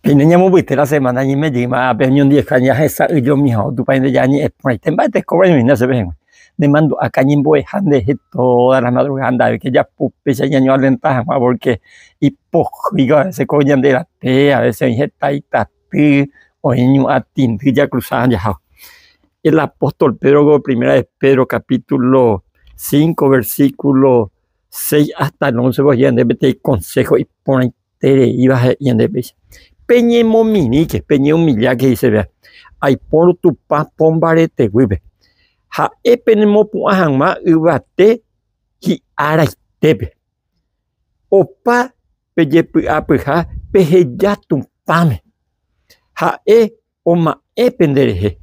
Peine ñamovyete la semana ñemejýma ápe oñondiveha ñahesa'ỹjomiha otupãite ñañe'ẽ porãite mba'e tekóva ñamoinda chéve hag̃ua. Nemandu'áka ñembo'eha nderehe todas las madrugadas ndaha'éike japu péicha ñañoalenta hag̃ua porque ipohýiva a veces ko ñande rape, a veces oĩ heta itaty, oĩ ñu'ã tindy jakrusáva jaháva. El apóstol Pedro ko Primera de Pedro capítulo cinco versículo seis hasta el oncepe oje'e yande peteĩ konsého iporãite. Tereíva he'i ñande péicha, Peñemomirĩke, peñeumilláke, he'ise vea, aipórõ Tupã pombareteguýpe, ha'e penemopu'ã hag̃ua yvate hi'araitépe. Opa pejepy'apyha peheja Tupãme, ha'e oma'ẽ pende rehe,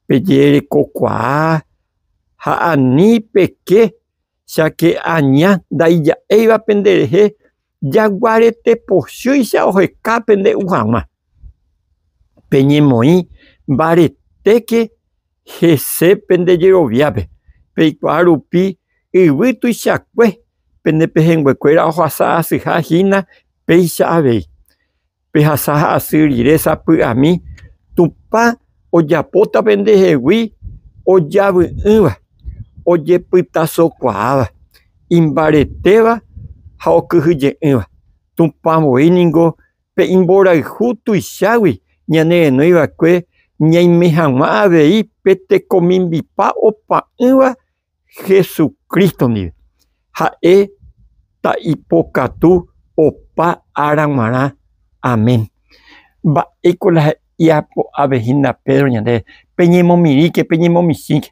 pejerekokuaa ha ani peke Cháke aña ndaija'éiva penderehe jaguarete pochýicha oheka pende'u hag̃ua. Peñemoĩ mbaretéke hese pende jeroviápe, peikuaa rupi yvy tuichakue pende pehẽnguekuéra ohasa asyha hína péicha avei. Pehasa ha asy rire sapy'ami Tupã ojapóta pendehegui ojavy'ỹva, ojepytasokuaáva, imbaretéva ha okyhyje'ỹva. Tupã voi ningo pe imborayhu tuichágui ñanerenói va'ekue ñaime hag̃ua avei pe tekomimbipa opa'ỹva Jesucristo ndive. Ha'e ta ipokatu opa ára guarã. Amén. Mba'éiko la japo'ave hína Pedro ñandéve, Peñemomirĩke, peñemomichĩke,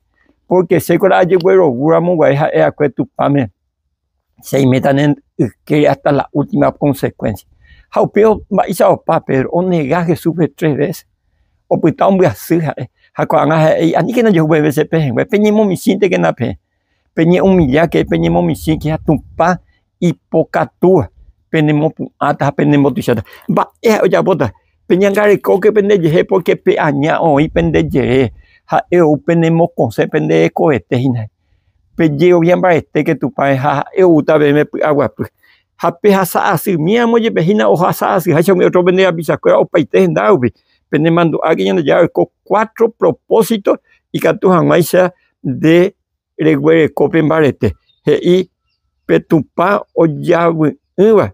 pórke chéko la ajeguerovu ramo guare ha'e'akue Tupãme. Cheimeta ne yke hasta la última consecuencia. Ha upéva mba'éicha opa Pedro, onega Jesúspe tres veces. Opyta ombyasy ha'e. Ha ko'ág̃a ha'e he'i, aníkena jehu peve che pehẽngue, peñemomichĩntekena peẽ, peñe'umillake, peñemomichĩke ha Tupã ipokatúva penemopu'ãta ha penembotuicháta. Mba'e ha'e ojapóta? Peñangarekóke pende jehe pórke pe aña oĩ pende jere, ha'e ou penemokosẽ pende hekovete hína. Pe jerovia mbaetéke Tupãme ha ha'e oúta peẽme py'aguapy. Ha pehasa asy míama jepe hína ohasa asy háicha umi ótro pende rapicha kuéra opaite henda rupi. Pene mandu'áke Ñandejára oiko cuatro propósito ikatu hag̃uáicha nde reguereko pe mbarete. He'i pe Tupã ojavy'ỹva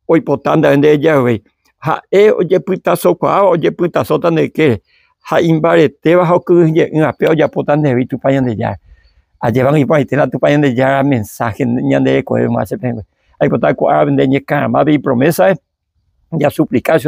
oipota nde ndejague, ha'e ojepytasokuaáva ojepytasóta nde kére, ha imbaretéva ha okyhyje'ỹ ape ojapóta ndehegui Tupã Ñandejára. Ajépango iporãite la Tupã Ñandejára mensáhe ñande rekovéva che pẽgua. Aipota ko árape nde ñekarãmápe ipromésape, jasuplika che.